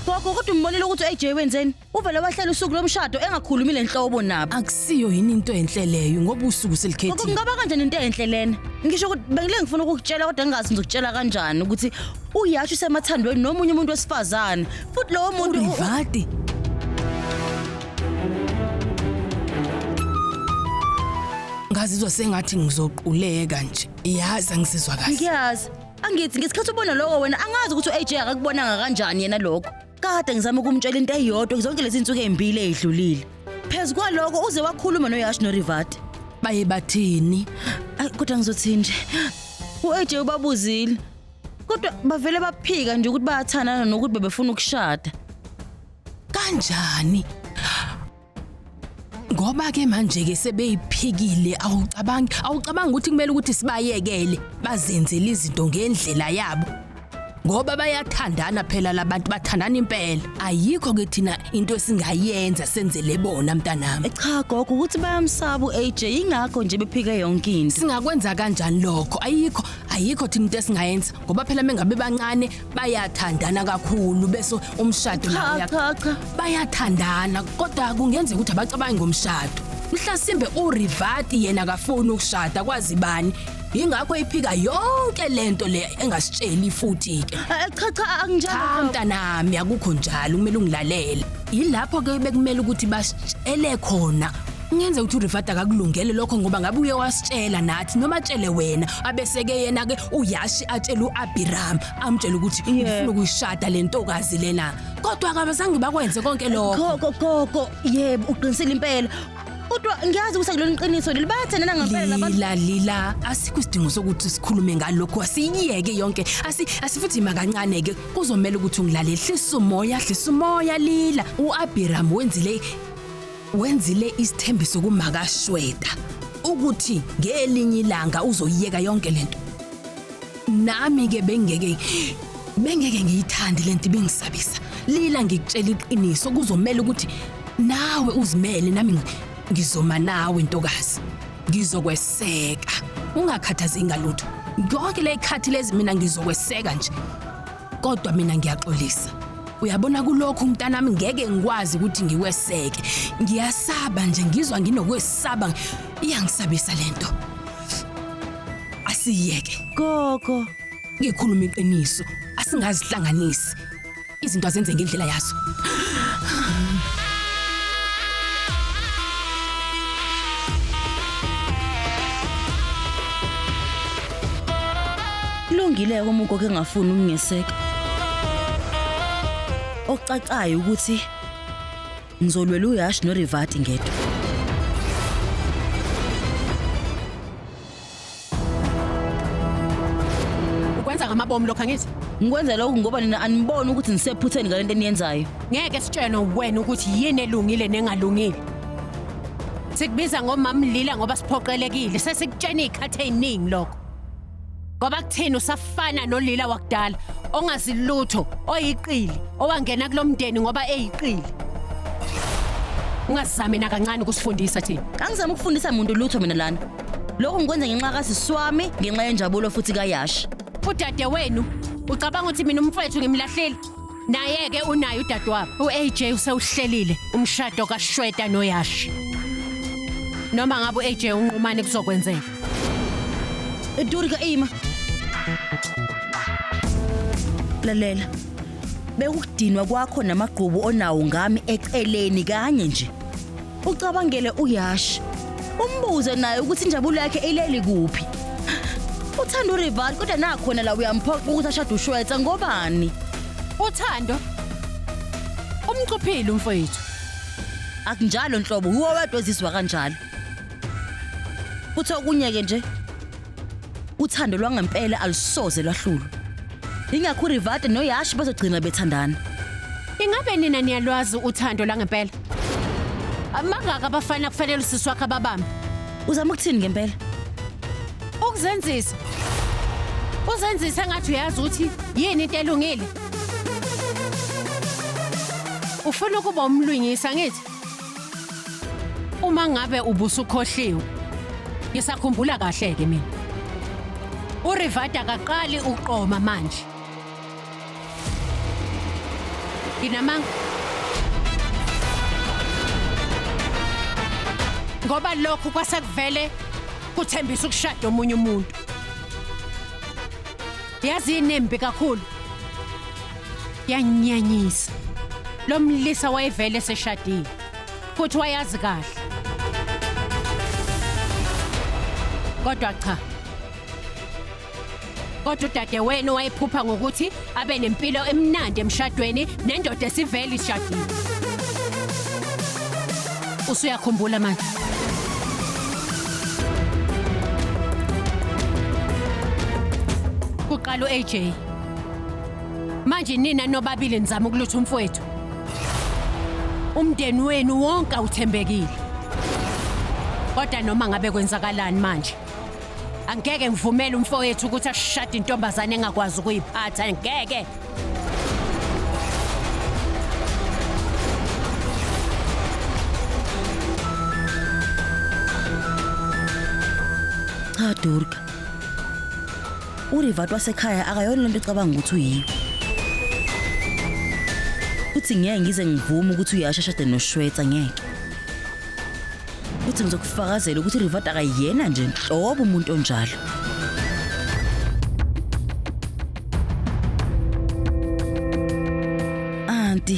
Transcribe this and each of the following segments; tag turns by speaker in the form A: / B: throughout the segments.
A: Gogo kodwa umbonile ukuthi uAJ wenzeni? Uvele wahlela usuku lomshado engakhulumi lenhlobo nabo. akusiyo yini into
B: enhle leyo ngoba usuku Gogo selikhethile kungaba kanjani
A: into
B: enhle
A: lena? Ngisho ukuthi bengile ngifuna ukukutshela kodwa ngingazi ngizokutshela kanjani ukuthi uyasho usemathandweni nomunye umuntu wesifazane. Futhi lowo muntu u- u- urivadi
B: ngazizwa sengathi ngizoquleka nje yazi angisizwa kahle ngiyazi Angithi
A: ngesikhathi ubona lokho wena angazi ukuthi u-AJ akakubonanga kanjani yena lokho. Kade ngizama ukumtshela into eyodwa zonke lezi nsuku ezimbili ezidlulile. Phezu kwaloko uze wakhuluma noYash noRivati. Baye bathini?
B: Ay kodwa
A: ngizothini nje? U-AJ ubabuzile. Kodwa bavele baphika nje ukuthi bayathandana nokuthi bebefuna ukushada. Kanjani?
B: Ngoba ke manje ke sebeyiphikile awucabangi awucabanga ukuthi kumele ukuthi sibayekele bazenzele izinto ngendlela yabo ngoba bayathandana phela labantu bathandana impela ayikho ke thina into esingayenza senzele bona mntanami cha gogo ukuthi
A: bayamsaba uAJ ingakho nje bephike yonke into singakwenza kanjani
B: lokho ayikho ayikho thina into esingayenza ngoba phela mengabe bancane bayathandana kakhulu bese umshado nawo cha uya- cha cha
A: bayathandana
B: kodwa kungenzeka ukuthi abacabangi ngomshado mhlasimbe urivati yena akafuni ukushada kwazi bani yingakho iphika yonke lento le engasitsheli futhi ke Eh, cha cha cha anginjalo
A: mntanami akukho
B: njalo kumele ungilalele yilapho ke bekumele ukuthi basitshele khona Ngenze ukuthi uRifat akakulungele lokho ngoba ngabe uye wasitshela nathi noma atshele wena abeseke yena ke uyashi atshela uAbiram amtshela ukuthi ngifuna ukuyishada lentokazi lena kodwa akabazange bakwenze konke lokho Gogo gogo yebo
A: uqinisile impela. Kodwa ngiyazi ukuthi akulona iqiniso leli bayathandana ngempela labantu. Lila lila asikho
B: isidingo sokuthi sikhulume ngalokho asiyeke yonke asi asifuthi makancane ke kuzomela ukuthi ungilalele hlisa umoya hlisa umoya lila uAbiram wenzile Wenzile isithembiso kumakashweda ukuthi ngelinye ilanga uzoyiyeka yonke lento. Nami ke bengeke bengeke ngiyithandi lento ibingisabisa. Lila ngikutshela iqiniso kuzomela ukuthi nawe uzimele nami ngizoma nawe ntokazi. Ngizokweseka. Ungakhathazi ngalutho. Yonke le khathi lezi mina ngizokweseka nje. kodwa mina ngiyaxolisa uyabona kulokhu mntanami ngeke ngikwazi ukuthi ngiweseke ngiyasaba nje ngizwa nginokwesaba iyangisabisa lento asiyeke gogo
A: ngikhuluma
B: iqiniso asingazihlanganisi izinto azenze ngendlela yazo
A: Kulungile uma ugogo engafuni ukungeseka. Okucacayo ukuthi ngizolwela uyash norivati ngedwa.
C: Ukwenza ngamabomu lokho angithi? Ngikwenza lokhu ngoba
A: nina aniboni ukuthi ngisephutheni ngalento eniyenzayo. Ngeke sitshelwe
C: wena ukuthi yini elungile nengalungile. Sikubiza ngomamlila ngoba siphoqelekile. Sesikutshena izikhathi eziningi lokho. Ngoba kuthini usafana nolila wakudala ongazi lutho, oyiqili, owangena kulomndeni ngoba eyiqili. Ungazami nakancane ukusifundisa thina. Angizami ukufundisa muntu
A: lutho mina lana. Lokhu ngikwenza ngenxa kasiswami, ngenxa yenjabulo futhi kayashi. Udade wenu
C: ucabanga ukuthi mina umfowethu ngimlahlile? Naye-ke unaye udadewabo u-AJ usewuhlelile umshado kaShweta noYashi. Noma ngabe u-AJ unqumane kuzokwenzeka.
A: Durika ima. Lalela. Bekukudinwa kwakho namagqubu onawo ngami eceleni kanye nje. ucabangele uyash umbuze naye ukuthi injabulo yakhe ileli kuphi uthanda urival kodwa nakhona la uyamphoqa ukuthi ashade ushwetsa ngobani uthando
C: umcuphile umfowethu akunjalo
A: nhlobo uwe wedwa ezizwa kanjalo futhi okunye-ke nje uthando lwangempela alusoze lwahlulwa ingakho urivate noyashi bazogcina bethandana ingabe
C: nina niyalwazi uthando lwangempela amangaka abafana kufanele usisi wakhe ababambe uzama ukuthini
A: ngempela
C: ukuzenzisa uzenzise ngathi uyazi ukuthi yini into elungile ufuna ukuba umlwingisa ngithi Uma ngabe ubusukhohliwe. Ngisakhumbula kahle ke mina. URivada akaqali uqoma manje. Nginamanga ngoba lokhu kwasekuvele kuthembisa ukushada omunye umuntu. Yazi inembi kakhulu. Yanyanyisa. Lo mlisa wayevele seshadile. Futhi wayazi kahle. Kodwa cha. Kodwa udade wenu wayephupha ngokuthi abe nempilo emnandi emshadweni nendoda esivele ishadile. Usuyakhumbula manje? Kuqala u-AJ Manje nina nobabili nizama ukulutha umfowethu. Umndeni wenu wonke awuthembekile. Kodwa noma ngabe kwenzakalani manje? Angeke ngivumele umfowethu ukuthi ashade intombazane engakwazi ukuyiphatha, ngeke.
A: Cha Durga, urivat wasekhaya akayona lento ecabanga ukuthi uyiyo uthi ngeke ngize ngivume ukuthi uyasha shade noshwetsa ngeke uthi ngizokufakazela ukuthi urivat akayena nje nhlobo umuntu onjalo anti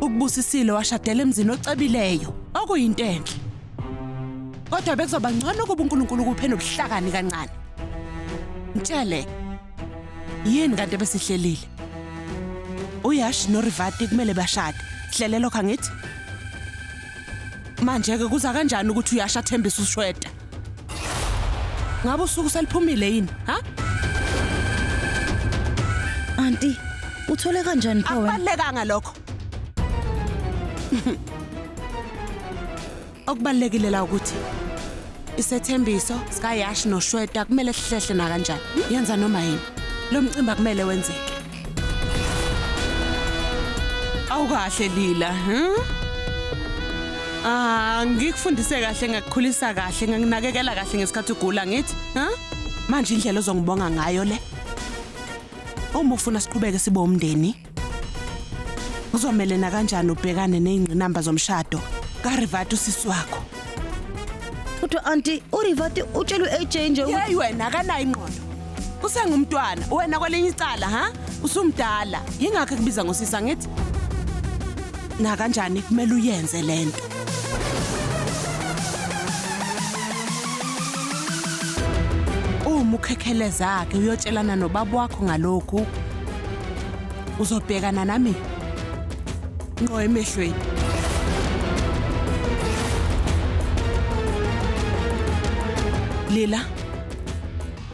D: Ukubusisile washadela emzini ocebileyo, okuyinto enhle. Kodwa bekuzoba ngcono ukuba uNkulunkulu kuphe nobuhlakani kancane. Mtshele yini kanti ebesihlelile? Uyash noRivati kumele bashade. Hlele lokho angithi? Manje ke kuza kanjani ukuthi uyasha thembisa ushweda? Ngabe usuku seliphumile yini? Ha?
A: Auntie, uthole kanjani pho wena? Akubalekanga lokho.
D: Okubalekile la ukuthi isethembiso sikaYash noShweta kumele sihlehle nakanjani. Yenza noma yini. Lo mcimbi akumele wenzeke. Awukahle Lila, huh? Ah, ngikufundise kahle ngakukhulisa kahle, nginakekela kahle ngesikhathi ugula ngithi, huh? Manje indlela ozongibonga ngayo le. Uma ufuna siqhubeke sibe umndeni, uzomelena kanjani ubhekane nezingqinamba zomshado ka Rivat usisi wakho?
A: Kodwa auntie, uRivati utshelwe AJ nje ukuthi Hey wena akanayo
D: ingqondo. usengumntwana wena kwelinye icala ha usumdala yingakho ekubiza ngosisa ngithi nakanjani kumele uyenze lento uma ukhekheleza ke uyotshelana nobaba wakho ngalokhu uzobhekana nami ngqo emehlweni Lila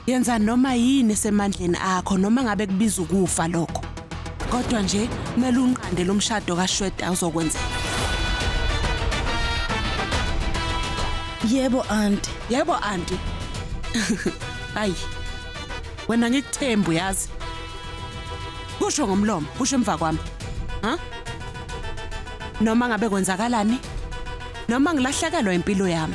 D: Yenza noma yini esemandleni akho noma ngabe kubiza ukufa lokho. Kodwa nje kumele unqande lo mshado kaShweta uzokwenzeka.
A: Yebo aunty. Yebo
D: aunty. Ayi. Wena ngikuthembu yazi. Kusho ngomlomo, kusho emva kwami. Ha? Noma ngabe kwenzakalani? Noma ngilahlekelwa impilo yami.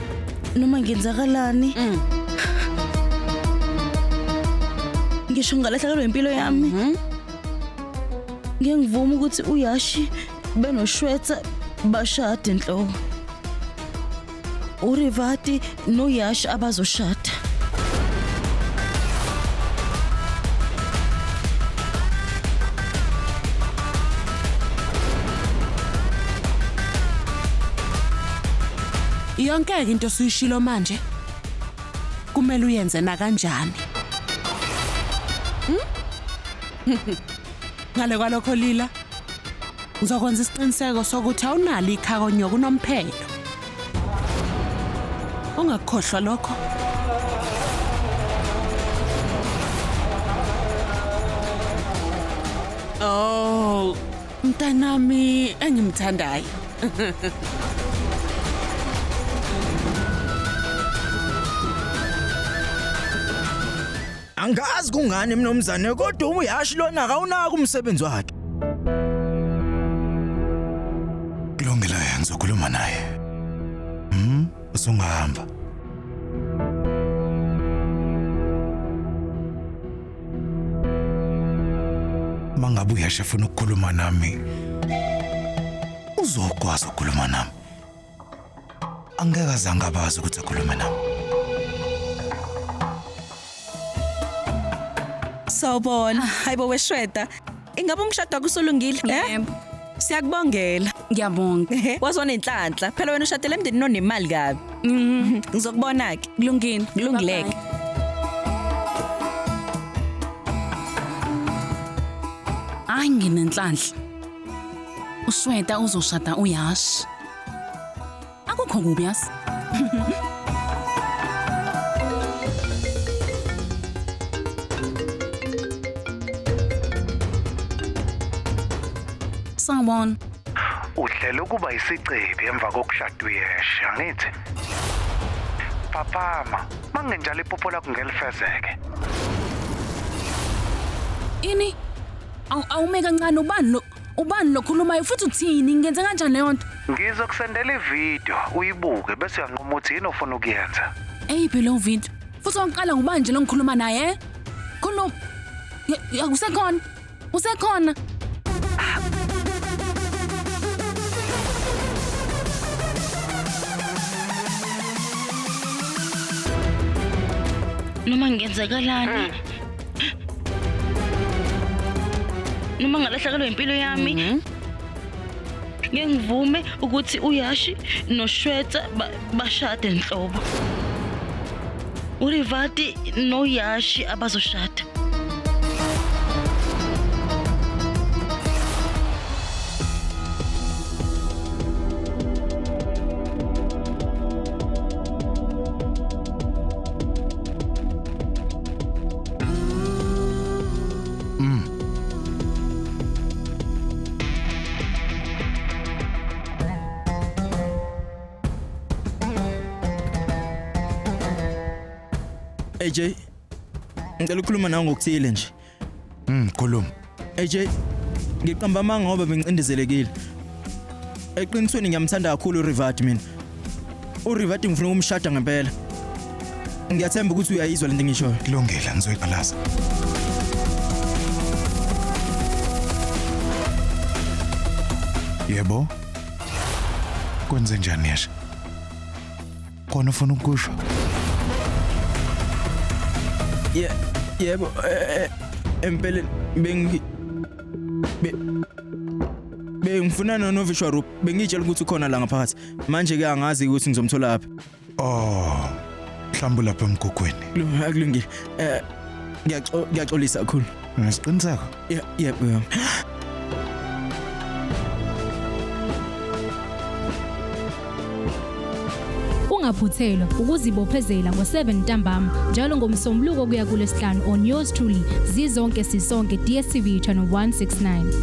A: noma ngenzakalani Mm. ngisho ngalahlekelwa impilo yami Mhm. ngeke ngivume ukuthi uyashi benoshwetha bashade nhlobo urivati noyashi abazoshada
D: Yonkeke into suyishilo manje. Kumele uyenze nakanjani. Hmm? Ngale kwalokho Lila ngizokwenza isiqiniseko sokuthi awunalo ikhako nyoka unomphelo. Ungakhohlwa lokho. Oh, Mntanami engimthandayo.
E: Angazi kungani mnomzane kodwa uyashi lona akawunaka umsebenzi wakhe.
F: Kulungile yenza ukhuluma naye. Mhm, usungahamba. Mangabe uyasha funa ukukhuluma nami. Uzokwazi ukukhuluma nami. Angeke azange abazi ukuthi akhulume nami.
G: Sawubona. Hayibo weshweda. Ingabe umshado akusulungile? Eh? Yebo.
B: Siyakubongela.
G: Ngiyabonga.
B: Waze wanenhlanhla.
G: Phela wena ushadele emndenini onemali kabi. Mhm. Ngizokubona ke. Kulungile. Kulungileke.
B: Hayi nginenhlanhla. Usweta uzoshada uyash. Akukho kubi yas. Sawubona. Uhlela
F: ukuba isicebi emva kokushada uyeshe, angithi? Phaphama, mangenjalo iphupho lakho ngelifezeke.
B: Ini? Awu awume kancane ubani lo Ubani lokhulumayo futhi uthini? Ngenze kanjani leyo nto? Ngizokusendela
F: ivideo uyibuke bese uyanquma ukuthi yini ofuna ukuyenza. Eyiphi leyo video?
B: Futhi wangiqala ngubani nje lo ngikhuluma naye? eh? Khuluma. Ya- ya, Usekhona? Usekhona?
A: noma ngenzakalani noma ngalahlekelwa impilo yami mm -hmm. ngeke ngivume ukuthi uyashi noshwetsa bashade nhlobo urivati noyashi abazoshada
E: Mm. AJ, ngicela ukukhuluma nawe ngokuthile nje. Mm, khuluma.
F: AJ
E: ngiqamba amanga ngoba bengicindezelekile. Eqinisweni ngiyamthanda kakhulu uRivati mina. URivati ngifuna ukumshada ngempela. Ngiyathemba ukuthi uyayizwa lento engishoyo. Kulungile, ngizoyiqalaza.
F: Yebo. Kwenze njani yesha? khona ufuna ukusho
E: Ye- yebo eh, eh, empeleni bengi be- bengifuna nonovishwa roop bengitshela ukuthi ukhona la ngaphakathi manje ke angazi ukuthi ngizomthola aphi oh
F: mhlawumbe lapha emgugwini Lu- akulungile
E: eh ngiyaxo- ngiyaxolisa kakhulu nesiqiniseko
F: Yeah, yeah,
E: yeah.
H: ungaphuthelwa ukuzibophezela ngo-7 ntambama njalo ngomsombuluko kuya kulesihlanu on yours truly zizonke sisonke dstv channel 169